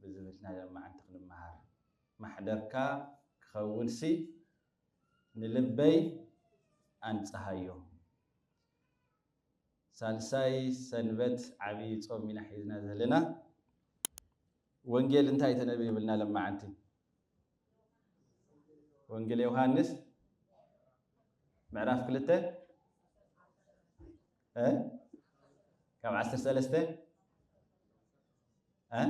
ብዝብል ናይ ሎማዓንቲ ክንመሃር ማሕደርካ ክኸውንሲ ንልበይ ኣንጽሃዮ። ሳልሳይ ሰንበት ዓብይ ጾም ኢና ሒዝና ዘለና። ወንጌል እንታይ ተነብዩ ብልና ሎማዓንቲ? ወንጌል ዮውሃንስ ምዕራፍ ክልተ እ ካብ ዓሰርተ ሰለስተ እ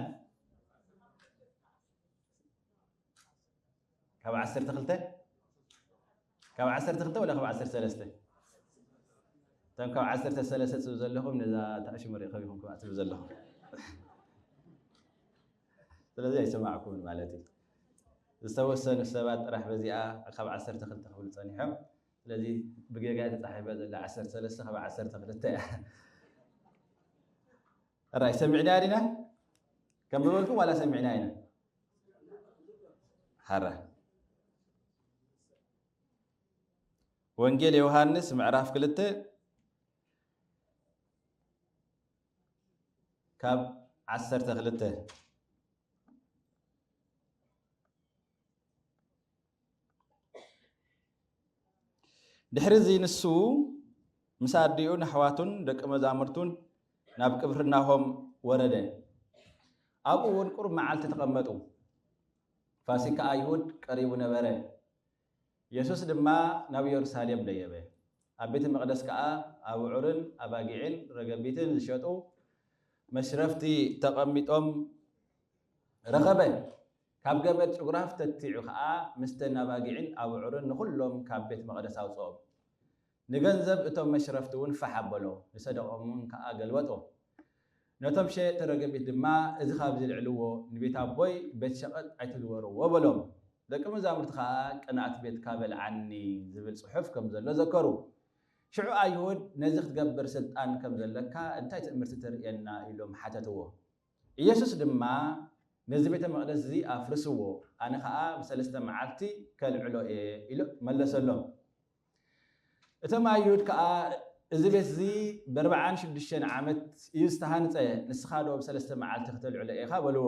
ካብ ዓሰርተ ክልተ ካብ ዓሰርተ ክልተ ወላ ካብ ዓሰርተ ሰለስተ እቶም ካብ ዓሰርተ ሰለስተ ትብሉ ዘለኹም ነዛ ተኣሽሙ ርኢኹም ኢኹም ክኣ ትብሉ ዘለኹም ስለዚ ኣይሰማዕኩምን ማለት እዩ ዝተወሰኑ ሰባት ጥራሕ በዚኣ ካብ ዓሰርተ ክልተ ክብሉ ፀኒሖም ስለዚ ብጌጋ እየ ተጻሒፋ ዘላ ዓሰርተ ሰለስተ ካብ ዓሰርተ ክልተ እያ ራይ ሰሚዕና ዲና ከም ዝበልኩም ዋላ ሰሚዕና ኢና ሓራ ወንጌል ዮሃንስ ምዕራፍ ክልተ ካብ ዓሰርተ ክልተ ድሕሪ እዚ ንሱ ምስ ኣዲኡን ኣሕዋቱን ደቂ መዛሙርቱን ናብ ቅፍርናሆም ወረደ። ኣብኡ እውን ቁሩብ መዓልቲ ተቐመጡ። ፋሲካ ኣይሁድ ቀሪቡ ነበረ። የሱስ ድማ ናብ የሩሳሌም ደየበ። ኣብ ቤተ መቕደስ ከኣ ኣብዑርን ኣባጊዕን ረገቢትን ዝሸጡ መሽረፍቲ ተቐሚጦም ረኸበ። ካብ ገመድ ጭጉራ ኣፍተቲዑ ኸኣ ምስተን ኣባጊዕን ኣቡዑርን ንዅሎም ካብ ቤት መቕደስ ኣውጽኦም። ንገንዘብ እቶም መሽረፍቲውን ፋሕ ኣበሎ፣ ንሰደቓኦምውን ከኣ ገልበጦ። ነቶም ሸየጥቲ ረገቢት ድማ፣ እዚ ኻብዚ ኣልዕልዎ፣ ንቤት ኣቦይ ቤት ሸቐጥ ኣይትግበርዎ በሎም። ደቂ መዛሙርቲ ኸኣ ቅንኣት ቤትካ በልዓኒ ዚብል ጽሑፍ ከም ዘሎ ዘከሩ። ሽዑ ኣይሁድ ነዚ ኽትገብር ስልጣን ከም ዘለካ እንታይ ትእምርቲ ተርእየና? ኢሎም ሓተትዎ። ኢየሱስ ድማ ነዚ ቤተ መቕደስ እዚ ኣፍርስዎ፣ ኣነ ኸኣ ብሰለስተ መዓልቲ ከልዕሎ እየ ኢሉ መለሰሎም። እቶም ኣይሁድ ከኣ እዚ ቤት እዚ በርብዓን ሽዱሽተን ዓመት እዩ ዝተሃንጸ፣ ንስኻዶ ብሰለስተ መዓልቲ ክተልዕሎ ኢኻ በልዎ።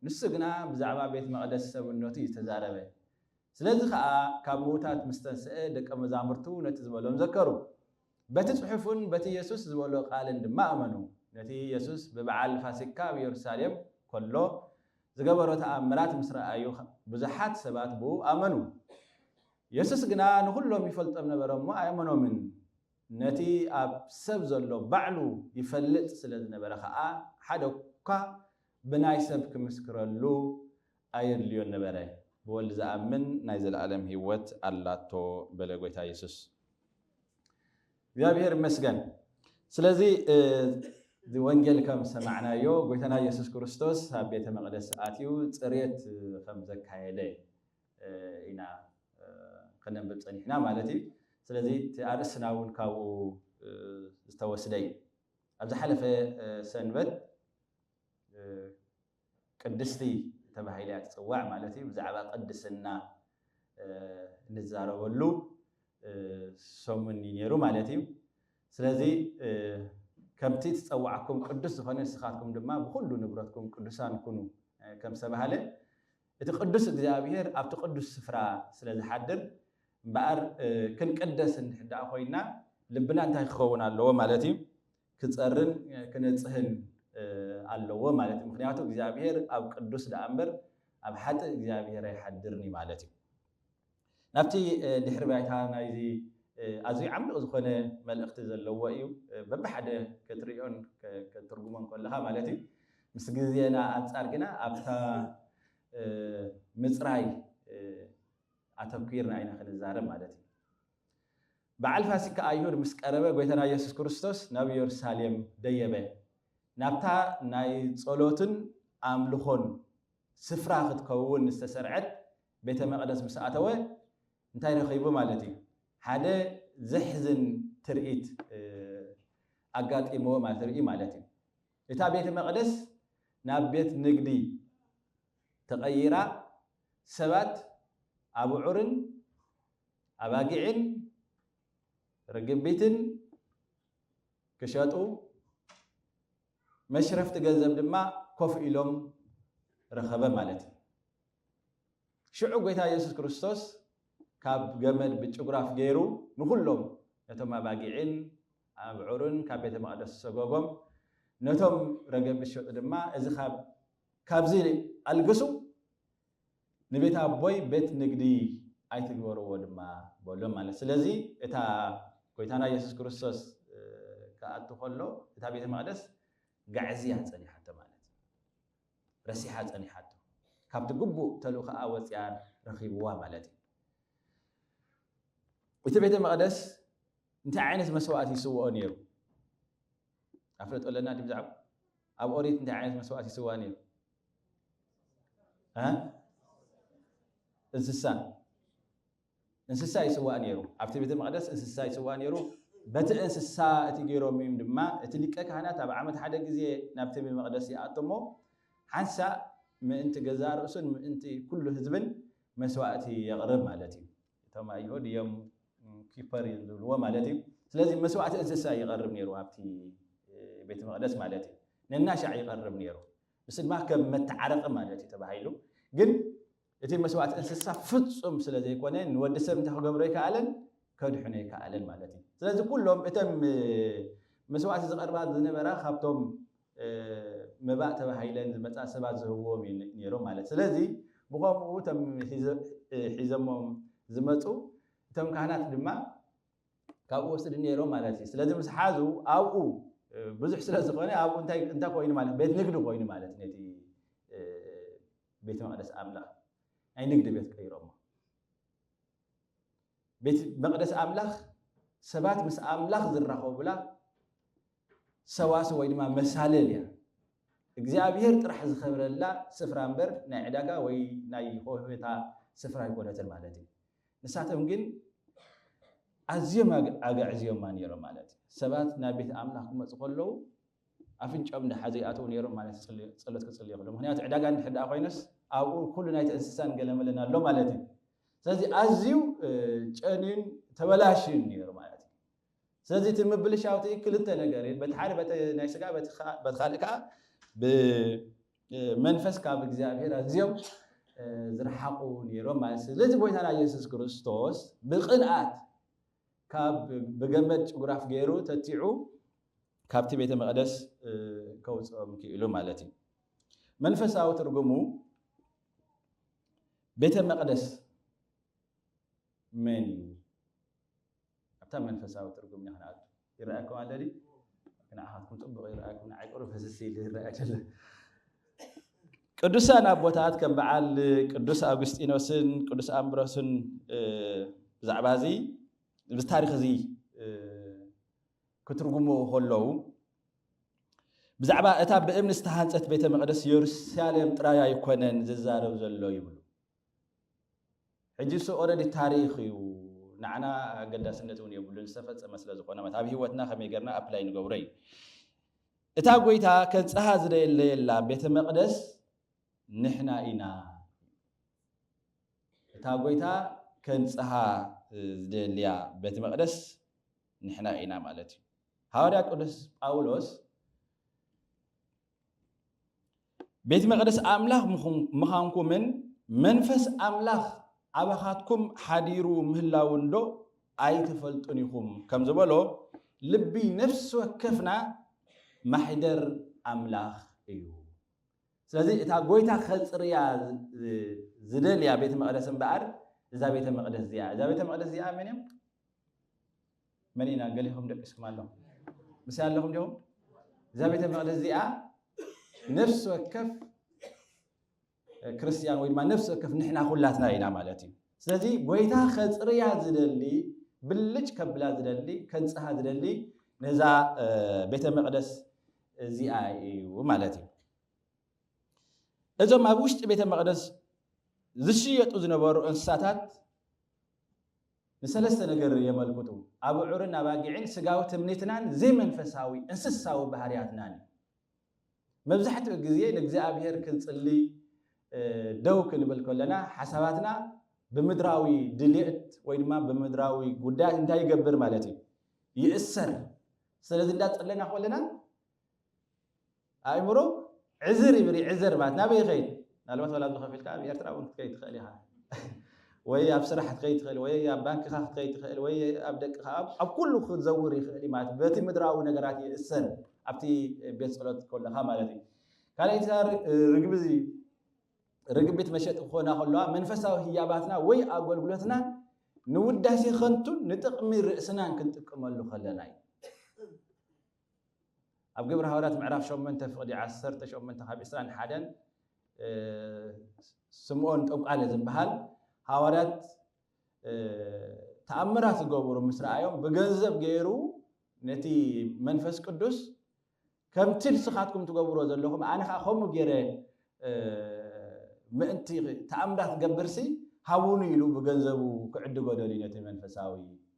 ንሱ ግና ብዛዕባ ቤት መቕደስ ሰብነቱ እዩ ዝተዛረበ። ስለዚ ኸኣ ካብ ምዉታት ምስ ተንስኤ ደቀ መዛሙርቱ ነቲ ዝበሎም ዘከሩ። በቲ ጽሑፍን በቲ የሱስ ዝበሎ ቃልን ድማ ኣመኑ። ነቲ የሱስ ብበዓል ፋሲካ ኣብ የሩሳሌም ከሎ ዝገበሮ ተኣምራት ምስ ረኣዩ ብዙሓት ሰባት ብእኡ ኣመኑ። የሱስ ግና ንዅሎም ይፈልጦም ነበረ እሞ ኣየመኖምን። ነቲ ኣብ ሰብ ዘሎ ባዕሉ ይፈልጥ ስለ ዝነበረ ኸኣ ሓደ እኳ ብናይ ሰብ ክምስክረሉ ኣየድልዮን ነበረ፣ ብወልድ ዝኣምን ናይ ዘለኣለም ህይወት ኣላቶ በለ ጎይታ የሱስ። እግዚኣብሄር ይመስገን ስለዚ እዚ ወንጌል ከም ዝሰማዕናዮ ጎይታና የሱስ ክርስቶስ ኣብ ቤተ መቕደስ ኣትዩ ጽሬት ከም ዘካየደ ኢና ከነንብብ ጸኒሕና ማለት እዩ። ስለዚ እቲ ኣርእስትና እውን ካብኡ ዝተወስደ እዩ። ኣብ ዝሓለፈ ሰንበት ቅድስቲ ተባሂላ እያ ትጽዋዕ ማለት እዩ። ብዛዕባ ቅድስና እንዛረበሉ ሰሙን እዩ ነይሩ ማለት እዩ። ስለዚ ከምቲ ትጸዋዕኩም ቅዱስ ዝኾነ ንስኻትኩም ድማ ብኹሉ ንብረትኩም ቅዱሳን ኩኑ ከም ዝተባህለ እቲ ቅዱስ እግዚኣብሔር ኣብቲ ቅዱስ ስፍራ ስለ ዝሓድር እምበኣር ክንቅደስ እንድሕር ኮይና ልብና እንታይ ክኸውን ኣለዎ ማለት እዩ? ክጸርን ክነጽህን ኣለዎ ማለት እዩ። ምክንያቱ እግዚኣብሔር ኣብ ቅዱስ ደኣ እምበር ኣብ ሓጥእ እግዚኣብሔር ኣይሓድርን እዩ ማለት እዩ። ናብቲ ድሕሪ ባይታ ናይዚ ኣዝዩ ዓሚቕ ዝኾነ መልእኽቲ ዘለዎ እዩ። በብሓደ ከትርእዮን ከትርጉሞን ከለኻ ማለት እዩ። ምስ ግዜና ኣንጻር ግና ኣብታ ምጽራይ ኣተኲርና ኢና ክንዛረብ ማለት እዩ። በዓል ፋሲካ ኣይሁድ ምስ ቀረበ ጐይታና ኢየሱስ ክርስቶስ ናብ ኢየሩሳሌም ደየበ። ናብታ ናይ ጸሎትን ኣምልኾን ስፍራ ክትከውን ዝተሰርዐት ቤተ መቕደስ ምስ ኣተወ እንታይ ረኺቡ ማለት እዩ? ሓደ ዘሕዝን ትርኢት ኣጋጢምዎ ማለት ርእዩ ማለት እዩ። እታ ቤተ መቕደስ ናብ ቤት ንግዲ ተቐይራ ሰባት ኣቡዑርን ኣባጊዕን ርግቢትን ክሸጡ መሽረፍቲ ገንዘብ ድማ ኮፍ ኢሎም ረኸበ ማለት እዩ። ሽዑ ጎይታ ኢየሱስ ክርስቶስ ካብ ገመድ ብጭጉራፍ ገይሩ ንኹሎም ነቶም ኣባጊዕን ኣብዑርን ካብ ቤተ መቕደስ ሰጎጎም ነቶም ረገብ ዝሸጡ ድማ እዚ ካብዚ ኣልግሱ ንቤት ኣቦይ ቤት ንግዲ ኣይትግበርዎ ድማ በሎም ማለት ስለዚ እታ ጎይታና ኢየሱስ ክርስቶስ ክኣቱ ከሎ እታ ቤተ መቅደስ ጋዕዝያ ጸኒሓቶ ማለት ረሲሓ ጸኒሓቶ ካብቲ ግቡእ ተልእኾኣ ወጽያ ረኺብዋ ማለት እዩ እቲ ቤተ መቅደስ እንታይ ዓይነት መስዋእቲ ይስውኦ ነይሩ ኣፍለጦ ኣለና ዲ ብዛዕባ ኣብ ኦሪት እንታይ ዓይነት መስዋእት ይስዋ ነይሩ እንስሳ እንስሳ ይስዋእ ነይሩ ኣብቲ ቤተ መቅደስ እንስሳ ይስዋእ ነይሩ በቲ እንስሳ እቲ ገይሮም እዮም ድማ እቲ ሊቀ ካህናት ኣብ ዓመት ሓደ ግዜ ናብቲ መቅደስ ይኣቶሞ ሓንሳ ምእንቲ ገዛ ርእሱን ምእንቲ ኩሉ ህዝብን መስዋእቲ የቕርብ ማለት እዩ እቶም ኣይሁድ እዮም ኪፐር እዮም ዝብልዎ ማለት እዩ ስለዚ መስዋዕቲ እንስሳ ይቐርብ ነይሩ ኣብቲ ቤተ መቕደስ ማለት እዩ ነናሻዕ ይቐርብ ነይሩ ንስ ድማ ከም መተዓረቂ ማለት እዩ ተባሂሉ ግን እቲ መስዋዕቲ እንስሳ ፍፁም ስለ ዘይኮነ ንወዲ ሰብ እንታይ ክገብሮ ይከኣለን ከድሕኖ ይከኣለን ማለት እዩ ስለዚ ኩሎም እተም መስዋዕቲ ዝቐርባ ዝነበራ ካብቶም መባእ ተባሂለን ዝመጻ ሰባት ዝህብዎም እዩ ነይሮም ማለት ስለዚ ብኸምኡ እቶም ሒዘሞም ዝመጹ እቶም ካህናት ድማ ካብኡ ወስድ ነይሮም ማለት እዩ ስለዚ ምስ ሓዙ ኣብኡ ብዙሕ ስለ ዝኾነ ኣብኡ እንታይ እንታይ ኮይኑ ማለት ቤት ንግዲ ኮይኑ ማለት ነቲ ቤት መቅደስ ኣምላኽ ናይ ንግዲ ቤት ቀይሮሞ ቤት መቅደስ ኣምላኽ ሰባት ምስ ኣምላኽ ዝራኸቡላ ሰዋስው ወይ ድማ መሳልል እያ። እግዚኣብሄር ጥራሕ ዝኸብረላ ስፍራ እምበር ናይ ዕዳጋ ወይ ናይ ሆህታ ስፍራ ኣይኮነትን ማለት እዩ። ንሳቶም ግን ኣዝዮም ኣግዕዝዮማ ነይሮም ማለት እዩ። ሰባት ናብ ቤት ኣምላኽ ክመፁ ከለዉ ኣፍንጮም ድሓ ዘይኣተዉ ነይሮም ማለት ፀሎት ክፅልዩ ከሎ ምክንያቱ ዕዳጋ እንድሕር ደኣ ኮይነስ ኣብኡ ኩሉ ናይቲ እንስሳን ገለመለን ኣሎ ማለት እዩ ስለዚ ኣዝዩ ጨንዩን ተበላሽዩን ነይሩ ማለት እዩ ስለዚ እቲ ምብልሻው እቲ ክልተ ነገር እዩ፣ በቲ ሓደ በቲ ናይ ስጋ በቲ ካልእ ከኣ ብመንፈስ ካብ እግዚኣብሔር ኣዝዮም ዝረሓቑ ነይሮም ማለት እዩ። ስለዚ ጎይታና ኢየሱስ ክርስቶስ ብቅንኣት ካብ ብገመድ ጭጉራፍ ገይሩ ተቲዑ ካብቲ ቤተ መቕደስ ከውፅኦም ክኢሉ ማለት እዩ። መንፈሳዊ ትርጉሙ ቤተ መቕደስ መን እዩ? ኣብታ መንፈሳዊ ትርጉም ኢና ክንኣቱ። ይረኣየኩም ኣሎ ድዩ? ንዓኻትኩም ጽቡቕ ይረኣየኩም፣ ንዓይ ቁሩብ ፍስስ ኢሉ ይረኣይ ዘሎ። ቅዱሳን ኣቦታት ከም በዓል ቅዱስ ኣውግስጢኖስን ቅዱስ ኣምብሮስን ብዛዕባ እዚ እዚ ታሪኽ እዚ ክትርጉሙ ከለዉ ብዛዕባ እታ ብእምኒ ዝተሃንፀት ቤተ መቕደስ የሩሳሌም ጥራይ ኣይኮነን ዝዛረብ ዘሎ ይብሉ። ሕጂስ ኦረዲ ታሪኽ እዩ ንዓና ኣገዳስነት እውን የብሉን ዝተፈጸመ ስለ ዝኾነ ማለት ኣብ ህይወትና ከመይ ገርና ኣፕላይ ንገብሮ እዩ እታ ጎይታ ከብጽሃ ዝደለየላ ቤተ መቕደስ ንሕና ኢና እታ ጎይታ ከንጽሃ ዝደልያ ቤተ መቕደስ ንሕና ኢና ማለት እዩ ሃዋርያ ቅዱስ ጳውሎስ ቤት መቕደስ ኣምላኽ ምዃንኩምን መንፈስ ኣምላኽ ኣባኻትኩም ሓዲሩ ምህላውንዶ ኣይትፈልጡን ኢኹም ከም ዝበሎ ልቢ ነፍሲ ወከፍና ማሕደር ኣምላኽ እዩ ስለዚ እታ ጎይታ ከፅርያ ዝደልያ ቤተ መቅደስ እምበኣር እዛ ቤተ መቅደስ እዚኣ እዛ ቤተ መቅደስ እዚኣ መን እዮም መን ኢና ገሊኹም ደቂስኩም ኣለኹም ምሳይ ኣለኹም ዲኹም እዛ ቤተ መቅደስ እዚኣ ነፍሲ ወከፍ ክርስትያን ወይ ድማ ነፍሲ ወከፍ ንሕና ኩላትና ኢና ማለት እዩ ስለዚ ጎይታ ከፅርያ ዝደሊ ብልጭ ከብላ ዝደሊ ከንፅሃ ዝደሊ ነዛ ቤተ መቅደስ እዚኣ እዩ ማለት እዩ እዞም ኣብ ውሽጢ ቤተ መቅደስ ዝሽየጡ ዝነበሩ እንስሳታት ንሰለስተ ነገር የመልክቱ፣ ኣበዑርን ኣባጊዕን ስጋዊ ትምኒትናን ዘይመንፈሳዊ እንስሳዊ ባህርያትናን እዩ። መብዛሕትኡ ግዜ ንእግዚኣብሄር ክንጽሊ ደው ክንብል ከለና ሓሳባትና ብምድራዊ ድሌት ወይ ድማ ብምድራዊ ጉዳያት እንታይ ይገብር ማለት እዩ ይእሰር። ስለዚ እንዳጸለና ከለና ኣእምሮ ዕዝር ይብል እዩ ዕዘር ማለት ናበይ ይኸይድ ምናልባት ዋላ ኣብዚ ከፊልካ ኣብ ኤርትራ እውን ክትከይድ ትኽእል ኢኻ ወይ ኣብ ስራሕ ክትከይድ ትኽእል ወይ ኣብ ባንክኻ ክትከይድ ትኽእል ወይ ኣብ ደቅኻ ኣብ ኩሉ ክትዘውር ይኽእል እዩ ማለት በቲ ምድራዊ ነገራት ይእሰር ኣብቲ ቤት ፀሎት ከለኻ ማለት እዩ ካልኣይቲ ርግቢ እዚ ርግቢት መሸጢ ክኾና ከለዋ መንፈሳዊ ህያባትና ወይ ኣገልግሎትና ንውዳሴ ከንቱን ንጥቕሚ ርእስናን ክንጥቀመሉ ከለና እዩ ኣብ ግብሪ ሃዋርያት ምዕራፍ ሸሞንተ ፍቅዲ ዓሰርተ ሸሞንተ ካብ ዕስራን ሓደን ስምኦን ጠንቋሊ ዝብሃል ሃዋርያት ተኣምራት ዝገብሩ ምስ ረኣዮም ብገንዘብ ገይሩ ነቲ መንፈስ ቅዱስ ከምቲ ንስኻትኩም ትገብሮ ዘለኹም ኣነ ከዓ ከምኡ ገይረ ምእንቲ ተኣምራት ገብርሲ ሃቡኒ ኢሉ ብገንዘቡ ክዕድጎ ደልዩ ነቲ መንፈሳዊ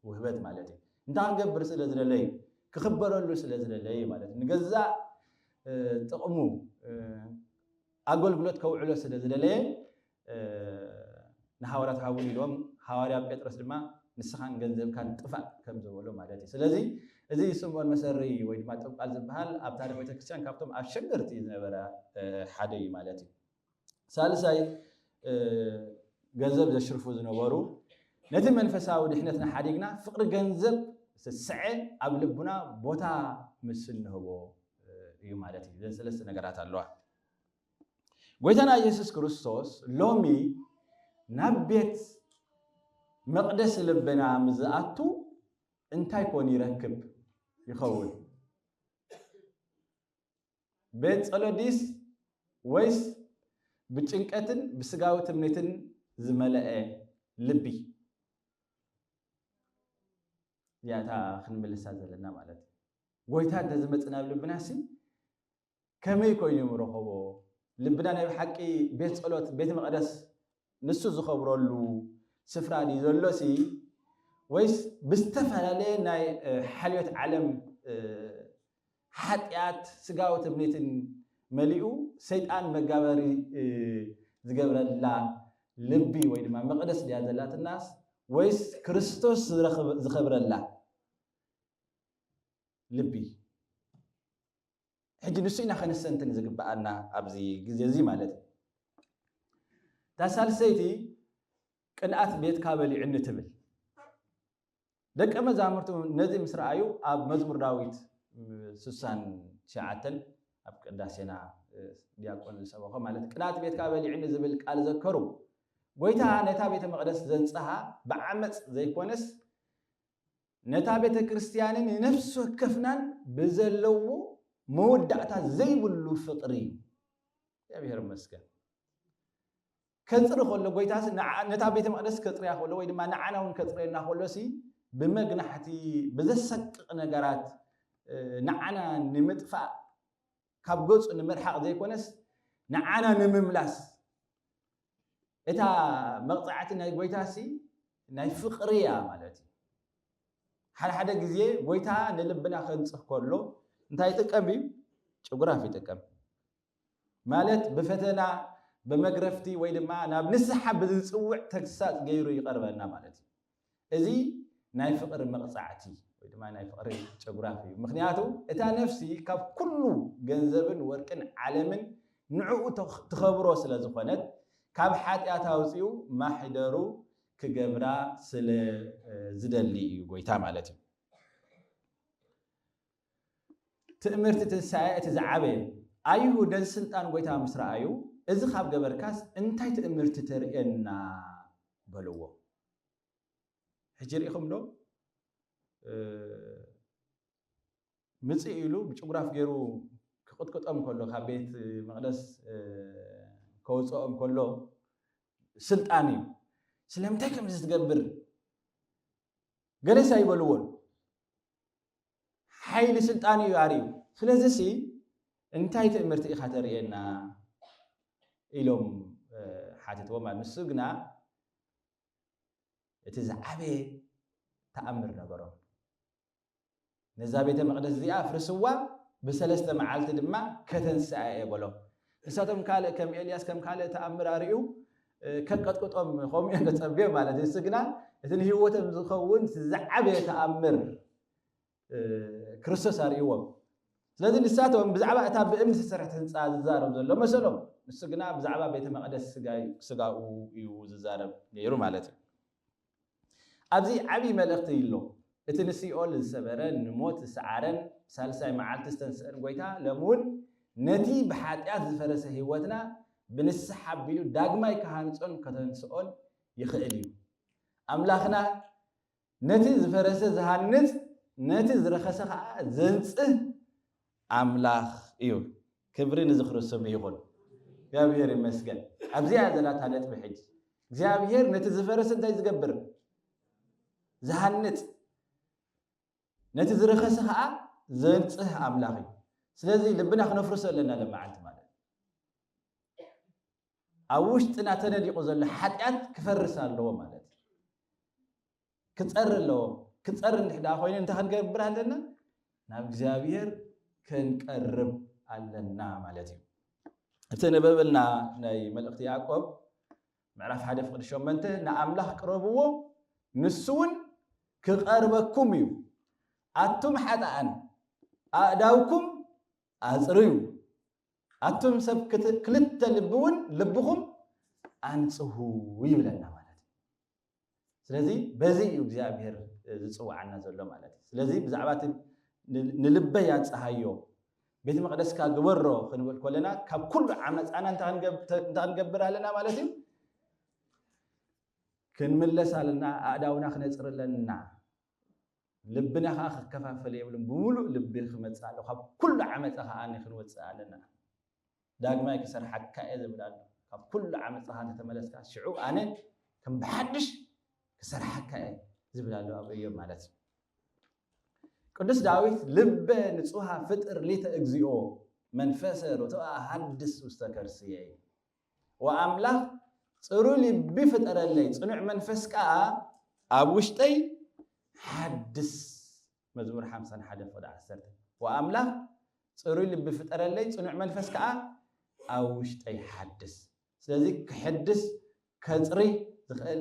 ውህበት ማለት እዩ እንታይ ክገብር ስለ ዝደለ እዩ? ክኽበረሉ ስለ ዝደለ እዩ ማለት እዩ። ንገዛእ ጥቕሙ ኣገልግሎት ከውዕሎ ስለ ዝደለየ ንሃዋርያት ሃቡኒ ኢልዎም፣ ሃዋርያ ጴጥሮስ ድማ ንስኻን ገንዘብካን ጥፋእ ከም ዝበሎ ማለት እዩ። ስለዚ እዚ ስምዖን መሰሪ ወይ ድማ ጥብቃል ዝበሃል ኣብ ታሪኽ ቤተክርስትያን ካብቶም ኣሸገርቲ ዝነበረ ሓደ እዩ ማለት እዩ። ሳልሳይ ገንዘብ ዘሽርፉ ዝነበሩ ነቲ መንፈሳዊ ድሕነትና ሓዲግና ፍቕሪ ገንዘብ ዝተስዐ ኣብ ልቡና ቦታ ምስ እንህቦ እዩ ማለት እዩ ዘን ሰለስተ ነገራት ኣለዋ ጎይታና ኢየሱስ ክርስቶስ ሎሚ ናብ ቤት መቕደስ ልብና ምዝኣቱ እንታይ ኮን ይረክብ ይኸውን ቤት ጸሎት ድዩስ ወይስ ብጭንቀትን ብስጋዊ ትምኒትን ዝመለአ ልቢ? እዚኣ እታ ክንምልሳ ዘለና ማለት እዩ። ጎይታ እንተዝመጽእ ናብ ልብና ሲ ከመይ ኮይኑ ምረኸቦ? ልብና ናይ ብሓቂ ቤት ጸሎት ቤት መቕደስ ንሱ ዝኸብረሉ ስፍራ ድዩ ዘሎሲ ወይስ ብዝተፈላለየ ናይ ሓልዮት ዓለም ሓጢኣት ስጋዊ ትምኒትን መሊኡ ሰይጣን መጋበሪ ዝገብረላ ልቢ ወይ ድማ መቕደስ ድያ ዘላትናስ ወይስ ክርስቶስ ዝኸብረላ ልቢ ሕጂ ንሱ ኢና ከነስተንትን ዝግብኣና ኣብዚ ግዜ እዚ ማለት እዩ። እታ ሳልሰይቲ ቅንኣት ቤትካ በሊዑኒ ትብል። ደቀ መዛሙርቱ ነዚ ምስ ረኣዩ ኣብ መዝሙር ዳዊት ስሳን ትሽዓተን ኣብ ቅዳሴና ዲያቆን ዝሰበኾ ማለት ቅንኣት ቤትካ በሊዑኒ ዝብል ቃል ዘከሩ። ጎይታ ነታ ቤተ መቕደስ ዘንጽሃ ብዓመጽ ዘይኮነስ ነታ ቤተ ክርስቲያንን ንነፍሲ ወከፍናን ብዘለዎ መወዳእታ ዘይብሉ ፍቅሪ እዩ። እግዚኣብሔር ይመስገን። ከጽሪ ከሎ ጎይታ ነታ ቤተ መቅደስ ከጽርያ ከሎ ወይ ድማ ንዓና እውን ከጽርየና ከሎ ሲ ብመግናሕቲ ብዘሰቅቕ ነገራት ንዓና ንምጥፋእ ካብ ገጹ ንምርሓቕ ዘይኮነስ ንዓና ንምምላስ እታ መቕጻዕቲ ናይ ጎይታሲ ናይ ፍቕሪ እያ ማለት እዩ። ሓደ ሓደ ግዜ ጎይታ ንልብና ከንጽህ ከሎ እንታይ ይጥቀም እዩ? ጭጉራፍ ይጥቀም ማለት ብፈተና ብመግረፍቲ ወይ ድማ ናብ ንስሓ ብዝጽውዕ ተግሳጽ ገይሩ ይቐርበና ማለት እዩ። እዚ ናይ ፍቕሪ መቕጻዕቲ ወይ ድማ ናይ ፍቕሪ ጨጉራፍ እዩ። ምኽንያቱ እታ ነፍሲ ካብ ኩሉ ገንዘብን ወርቅን ዓለምን ንዕኡ ትኸብሮ ስለ ዝኾነት ካብ ሓጢኣት ኣውጺኡ ማሕደሩ ክገብራ ስለ ዝደሊ እዩ ጎይታ ማለት እዩ። ትእምርቲ ትንሳኤ እቲ ዝዓበየ ኣይሁድ ነዚ ስልጣን ጎይታ ምስ ረኣዩ እዚ ካብ ገበርካስ እንታይ ትእምርቲ ተርእየና በልዎ። ሕጂ ርኢኹም ዶ ምፅእ ኢሉ ብጭጉራፍ ገይሩ ክቕጥቅጦም ከሎ ካብ ቤት መቕደስ ከወፅኦም ከሎ ስልጣን እዩ ስለምንታይ ከምዚ ትገብር ገለሳ ይበልዎን ሓይሊ ስልጣን እዩ ኣርዩ ስለዚ ሲ እንታይ ትእምርቲ ኢኻ ተርእየና ኢሎም ሓተትዎ ማለት ንሱ ግና እቲ ዝዓበየ ተኣምር ነበሮም ነዛ ቤተ መቅደስ እዚኣ ኣፍርስዋ ብሰለስተ መዓልቲ ድማ ከተንስኣ እየ በሎም ንሳቶም ካልእ ከም ኤልያስ ከም ካልእ ተኣምር ኣርእዩ ከንቀጥቅጦም ከምኡ እዮም ተጸብዮም ማለት እዩ። እሱ ግና እቲ ንህይወቶም ዝኸውን ዝዓበየ ተኣምር ክርስቶስ ኣርእዎም። ስለዚ ንሳቶም ብዛዕባ እታ ብእምኒ ዝተሰርሐት ህንፃ ዝዛረብ ዘሎ መሰሎም ንሱ ግና ብዛዕባ ቤተ መቅደስ ስጋኡ እዩ ዝዛረብ ነይሩ ማለት እዩ ኣብዚ ዓቢ መልእኽቲ ኣሎ። እቲ ንሲኦል ዝሰበረን ንሞት ዝሰዓረን ብሳልሳይ መዓልቲ ዝተንስእን ጐይታ ሎሚ እውን ነቲ ብሓጢኣት ዝፈረሰ ህይወትና ብንስሓ ኣቢሉ ዳግማይ ክሃንጾን ከተንስኦን ይኽእል እዩ። ኣምላኽና ነቲ ዝፈረሰ ዝሃንጽ ነቲ ዝረኸሰ ከኣ ዘንጽህ ኣምላኽ እዩ ክብሪ ንዝኽሪ ስሙ ይኹን። እግዚኣብሄር ይመስገን ኣብዚኣ እያ ዘላ እታ ነጥቢ ሕጂ እግዚኣብሄር ነቲ ዝፈረሰ እንታይ ዝገብር ዝሃንጽ ነቲ ዝረኸሰ ከዓ ዘንጽህ ኣምላኽ እዩ ስለዚ ልብና ክነፍርሶ ኣለና ለመዓልቲ ማለት ኣብ ውሽጥና ተነዲቑ ዘሎ ሓጢኣት ክፈርስ ኣለዎ ማለት እዩ ክፀሪ ኣለዎ። ክፀሪ እንድሕ ደኣ ኮይኑ እንታይ ክንገብር ኣለና? ናብ እግዚኣብሔር ክንቀርብ ኣለና ማለት እዩ። እቲ ነበበልና ናይ መልእኽቲ ያዕቆብ ምዕራፍ ሓደ ፍቅዲ ሸመንተ ንኣምላኽ ቅረብዎ ንሱ እውን ክቐርበኩም እዩ ኣቱም ሓጣኣን ኣእዳውኩም ኣፅርዩ ኣቱም ሰብ ክልተ ልቢ እውን ልብኹም ኣንፅሁ ይብለና ማለት እዩ። ስለዚ በዚ እዩ እግዚኣብሔር ዝፅውዓና ዘሎ ማለት እዩ ስለዚ ብዛዕባ እቲ ንልበይ ኣፀሃዮ ቤተ መቅደስካ ግበሮ ክንብል ኮለና ካብ ኩሉ ዓመፃና እንታይ ክንገብር ኣለና ማለት እዩ ክንምለስ ኣለና ኣእዳውና ክነፅር ኣለና ልብና ከዓ ክከፋፈል የብልን ብምሉእ ልቢ ክመፅእ ኣሎ ካብ ኩሉ ዓመፃ ከዓ ክንወፅእ ኣለና ዳግማይ ክሰርሓካ እየ ዝብል ኣሎ ካብ ኩሉ ዓመጽኻ እንተተመለስካ ሽዑ ኣነ ከም ብሓድሽ ክሰርሓካ እየ ዝብል ኣሎ ኣብ እዮብ ማለት እዩ ቅዱስ ዳዊት ልበ ንጹሃ ፍጥር ሊተ እግዚኦ መንፈሰ ርቱዐ ሃድስ ውስተ ከርስየ ወኣምላኽ ፅሩ ልቢ ፍጠረለይ ፅኑዕ መንፈስ ከዓ ኣብ ውሽጠይ ሓድስ መዝሙር ሓምሳን ሓደን ፍቕዲ ዓሰርተ። ወኣምላኽ ጽሩይ ልቢ ፍጠረለይ፣ ጽኑዕ መንፈስ ከኣ ኣብ ውሽጠይ ሓድስ። ስለዚ ክሕድስ፣ ከጽርይ ዝኽእል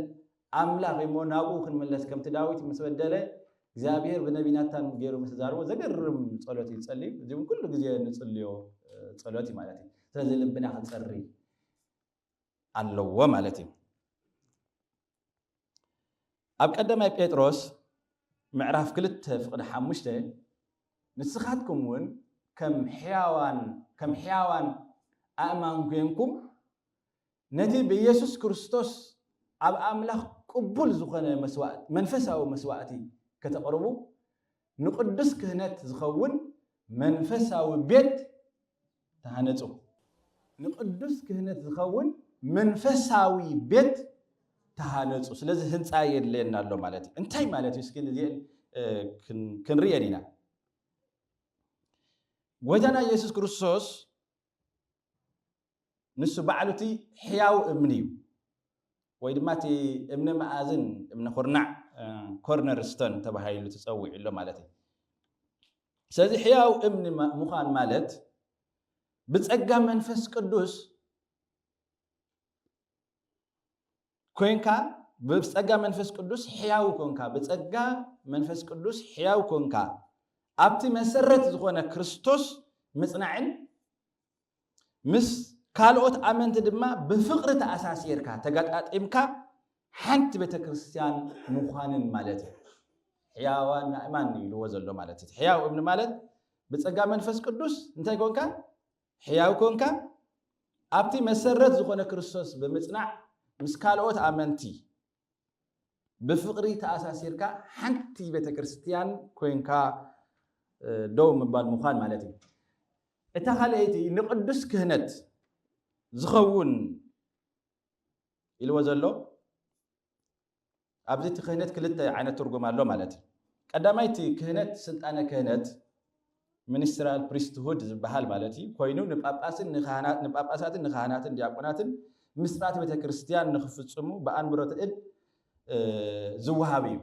ኣምላኽ እዩ እሞ ናብኡ ክንምለስ ከምቲ ዳዊት ምስ በደለ እግዚኣብሔር ብነቢ ናታን ገይሩ ምስ ዛርቦ ዘገርም ጸሎት እዩ ዝጸልዩ። እዚ እውን ኩሉ ግዜ ንጽልዮ ጸሎት እዩ ማለት እዩ። ስለዚ ልብና ክጸርይ ኣለዎ ማለት እዩ። ኣብ ቀዳማይ ጴጥሮስ ምዕራፍ ክልተ ፍቕዲ ሓሙሽተ ንስኻትኩም እውን ከም ሕያዋን ከም ሕያዋን ኣእማን ኮይንኩም ነቲ ብኢየሱስ ክርስቶስ ኣብ ኣምላኽ ቅቡል ዝኾነ መስዋእቲ መንፈሳዊ መስዋእቲ ከተቕርቡ ንቅዱስ ክህነት ዝኸውን መንፈሳዊ ቤት ተሃነጹ። ንቅዱስ ክህነት ዝኸውን መንፈሳዊ ቤት ተሃነጹ። ስለዚ ህንፃ የድለየና ኣሎ ማለት እዩ። እንታይ ማለት እዩ? እስኪ እዚኤን ክንርእየን ኢና። ጎይታና ኢየሱስ ክርስቶስ ንሱ ባዕሉ እቲ ሕያው እምኒ እዩ ወይ ድማ እቲ እምኒ መኣዝን እምኒ ኩርናዕ ኮርነር ስተን ተባሂሉ ተፀዊዑ ኣሎ ማለት እዩ ስለዚ ሕያው እምኒ ምዃን ማለት ብጸጋ መንፈስ ቅዱስ ኮንካ ብጸጋ መንፈስ ቅዱስ ሕያው ኮንካ ብጸጋ መንፈስ ቅዱስ ሕያው ኮንካ ኣብቲ መሰረት ዝኾነ ክርስቶስ ምጽናዕን ምስ ካልኦት ኣመንቲ ድማ ብፍቕሪ ተኣሳሲርካ፣ ተገጣጢምካ ሓንቲ ቤተ ክርስቲያን ምዃንን ማለት እዩ። ሕያዋን ኣእማን ኢልዎ ዘሎ ማለት እዩ። ሕያው እምኒ ማለት ብጸጋ መንፈስ ቅዱስ እንታይ ኮንካ? ሕያው ኮንካ ኣብቲ መሰረት ዝኾነ ክርስቶስ ብምጽናዕ ምስ ካልኦት ኣመንቲ ብፍቅሪ ተኣሳሲርካ ሓንቲ ቤተክርስትያን ኮይንካ ደው ምባል ምዃን ማለት እዩ። እታ ካልኣይቲ ንቅዱስ ክህነት ዝኸውን ኢልዎ ዘሎ ኣብዚ እቲ ክህነት ክልተ ዓይነት ትርጉም ኣሎ ማለት እዩ። ቀዳማይ እቲ ክህነት ስልጣነ ክህነት ሚኒስትራል ፕሪስትሁድ ዝበሃል ማለት እዩ፣ ኮይኑ ንጳጳሳትን ንካህናትን ዲያቆናትን ምስጢራት ቤተ ክርስቲያን ንክፍጽሙ ብኣንብሮተ እድ ዝወሃብ እዩ።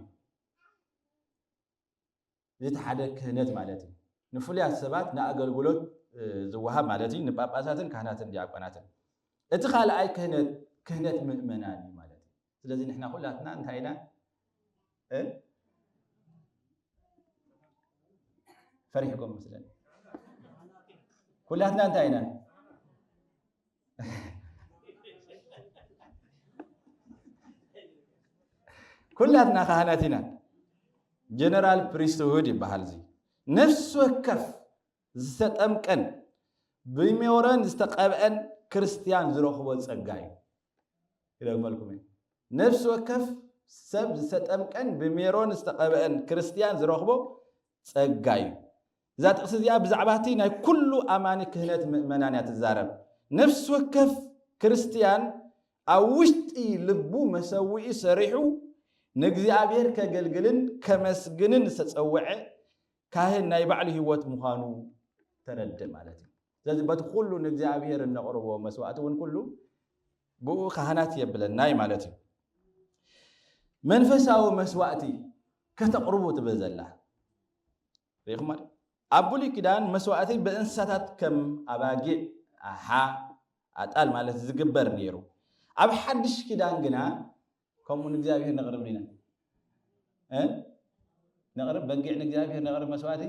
እዚ ሓደ ክህነት ማለት እዩ። ንፍሉያት ሰባት ንኣገልግሎት ዝወሃብ ማለት እዩ፣ ንጳጳሳትን ካህናትን ዲያቆናትን። እቲ ካልኣይ ክህነት ክህነት ምእመናን እዩ ማለት እዩ። ስለዚ ንሕና ኩላትና እንታይ ኢና እ ፈሪሕኩም መስለኒ ኩላትና እንታይ ኢና ኩላትና ካህናት ኢና ጀነራል ፕሪስትሁድ ይበሃል እዚ ነፍሲ ወከፍ ዝተጠምቀን ብሜሮን ዝተቐብአን ክርስትያን ዝረኽቦ ጸጋ እዩ። ይደግመልኩም እዩ። ነፍሲ ወከፍ ሰብ ዝተጠምቀን ብሜሮን ዝተቐብአን ክርስትያን ዝረኽቦ ጸጋ እዩ። እዛ ጥቕሲ እዚኣ ብዛዕባ እቲ ናይ ኩሉ ኣማኒ ክህነት ምእመናን እያ ትዛረብ ነፍሲ ወከፍ ክርስትያን ኣብ ውሽጢ ልቡ መሰዊኢ ሰሪሑ ንእግዚኣብሔር ከገልግልን ከመስግንን ዝተጸውዐ ካህን ናይ ባዕሉ ህይወት ምዃኑ ተረድእ ማለት እዩ። ስለዚ በቲ ኩሉ ንእግዚኣብሔር እነቕርቦ መስዋእቲ እውን ኩሉ ብኡ ካህናት የብለናይ ማለት እዩ። መንፈሳዊ መስዋእቲ ከተቕርቡ ትብል ዘላ ሪኢኹም ማለት ኣብ ብሉይ ኪዳን መስዋእቲ ብእንስሳታት ከም ኣባጊዕ፣ ኣሓ፣ ኣጣል ማለት ዝግበር ነይሩ። ኣብ ሓድሽ ኪዳን ግና ከምኡ ንእግዚኣብሔር ነቕርብ ኢና እ ነቕርብ በጊዕ ንእግዚኣብሔር ነቕርብ መስዋእቲ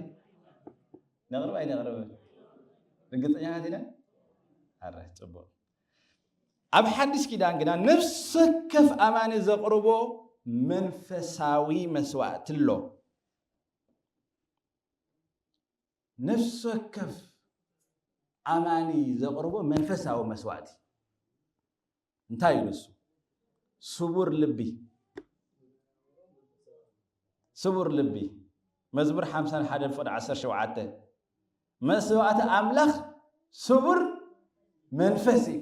ነቕርብ ኣይነቕርብን ርግፀኛታት ኢና ኣረ ፅቡቅ ኣብ ሓድሽ ኪዳን ግና ነፍሲ ወከፍ ኣማኒ ዘቕርቦ መንፈሳዊ መስዋእቲ ኣሎ ነፍሲ ወከፍ ኣማኒ ዘቕርቦ መንፈሳዊ መስዋእቲ እንታይ እዩ ንሱ? ስቡር ልቢ ስቡር ልቢ መዝሙር ሓምሳን ሓደን ፍቕዲ ዓሰርተ ሸውዓተ መስዋእቲ ኣምላኽ ስቡር መንፈስ እዩ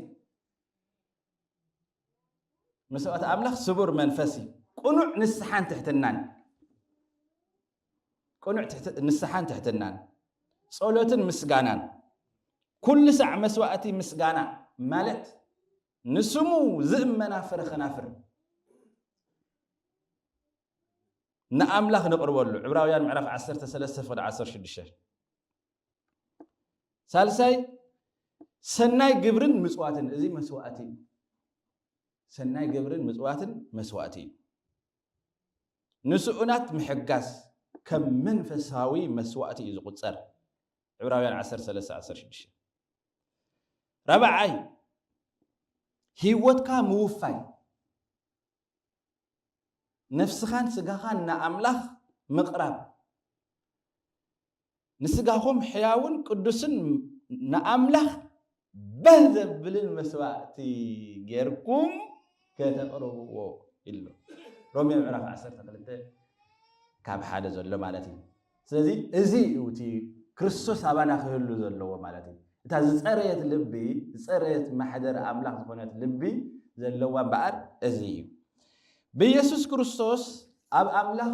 መስዋእቲ ኣምላኽ ስቡር መንፈስ እዩ ቅኑዕ ንስሓን ትሕትናን ቅኑዕ ንስሓን ትሕትናን ጸሎትን ምስጋናን ኩሉ ሳዕ መስዋእቲ ምስጋና ማለት ንስሙ ዝእመና ፍረ ኸናፍር ንኣምላኽ ነቕርበሉ ዕብራውያን ምዕራፍ 13 ፍቕዲ 16 ሳልሳይ ሰናይ ግብርን ምፅዋትን እዚ መስዋእቲ እዩ ሰናይ ግብርን ምፅዋትን መስዋእቲ እዩ ንስኡናት ምሕጋዝ ከም መንፈሳዊ መስዋእቲ እዩ ዝቑጸር። ዕብራውያን ዓሰርተ ሰለስተ ዓሰርተ ሽዱሽተ ራብዓይ ህይወትካ ምውፋይ ነፍስኻን ስጋኻን ንኣምላኽ ምቕራብ ንስጋኹም ሕያውን ቅዱስን ንኣምላኽ ባህ ዘብልን መስዋእቲ ጌርኩም ከተቕርብዎ ኢሉ ሮሜ ምዕራፍ 12 ካብ ሓደ ዘሎ ማለት እዩ ስለዚ እዚ እዩ እቲ ክርስቶስ ኣባና ክህሉ ዘለዎ ማለት እዩ እታ ዝፀረየት ልቢ ዝፀረየት ማሕደር ኣምላኽ ዝኾነት ልቢ ዘለዋ እምበኣር እዚ እዩ ብኢየሱስ ክርስቶስ ኣብ ኣምላኽ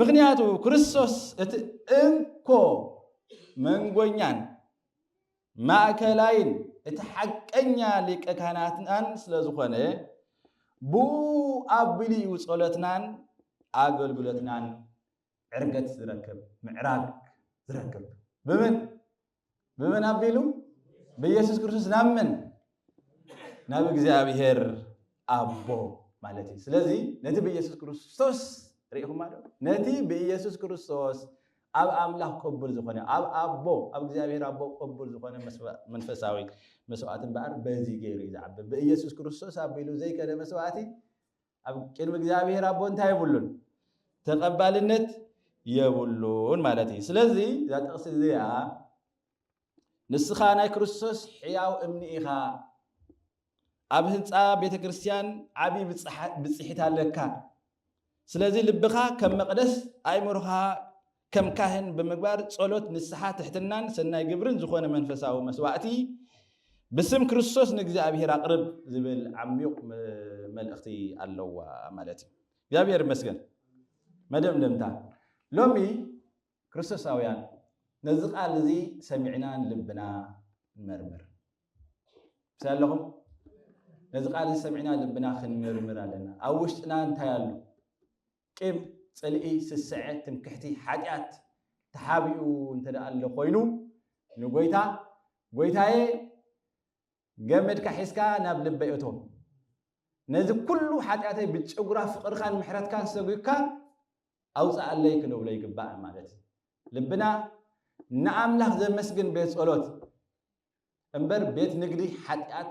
ምክንያቱ ክርስቶስ እቲ እንኮ መንጎኛን ማእከላይን እቲ ሓቀኛ ሊቀ ካህናትናን ስለ ዝኾነ ብኡ ኣቢሉ እዩ ጸሎትናን ኣገልግሎትናን ዕርገት ዝረክብ ምዕራግ ዝረክብ ብምን ብመን ኣቢሉ ብኢየሱስ ክርስቶስ ናብ መን ናብ እግዚኣብሔር ኣቦ ማለት እዩ ስለዚ ነቲ ብኢየሱስ ክርስቶስ ርኢኹማ ዶ ነቲ ብኢየሱስ ክርስቶስ ኣብ ኣምላኽ ቅቡል ዝኾነ ኣብ ኣቦ ኣብ እግዚኣብሔር ኣቦ ቅቡል ዝኾነ መንፈሳዊ መስዋእቲ እምበኣር በዚ ገይሩ እዩ ዝዓቢ ብኢየሱስ ክርስቶስ ኣቢሉ ዘይከደ መስዋእቲ ኣብ ቅድሚ እግዚኣብሔር ኣቦ እንታይ የብሉን ተቐባልነት የብሉን ማለት እዩ ስለዚ እዛ ጥቕሲ እዚኣ ንስኻ ናይ ክርስቶስ ሕያው እምኒ ኢኻ ኣብ ህንፃ ቤተ ክርስቲያን ዓብዪ ብፅሒት ኣለካ ስለዚ ልብኻ ከም መቕደስ ኣእምሮኻ ከም ካህን ብምግባር ጸሎት፣ ንስሓ፣ ትሕትናን ሰናይ ግብርን ዝኾነ መንፈሳዊ መስዋእቲ ብስም ክርስቶስ ንእግዚኣብሔር ኣቕርብ ዝብል ዓሚዩቕ መልእኽቲ ኣለዋ ማለት እዩ። እግዚኣብሔር ይመስገን። መደምደምታ ሎሚ ክርስቶሳውያን ነዚ ቃል እዚ ሰሚዕና ልብና ንመርምር ምስ ኣለኹም ነዚ ቃል እዚ ሰሚዕና ልብና ክንምርምር ኣለና። ኣብ ውሽጥና እንታይ ኣሎ? ቂም፣ ጽልኢ፣ ስስዐ፣ ትምክሕቲ፣ ሓጢኣት ተሓቢኡ እንተደኣ ኣሎ ኮይኑ፣ ንጐይታ፣ ጐይታየ፣ ገመድካ ሒዝካ ናብ ልበይ እቶ፣ ነዚ ኵሉ ሓጢኣተይ ብጭጕራ ፍቕርኻን ምሕረትካን ሰጒግካ ኣውጽኣለይ ክንብሎ ይግባእ ማለት እዩ። ልብና ንኣምላኽ ዘመስግን ቤት ጸሎት እምበር ቤት ንግዲ ሓጢኣት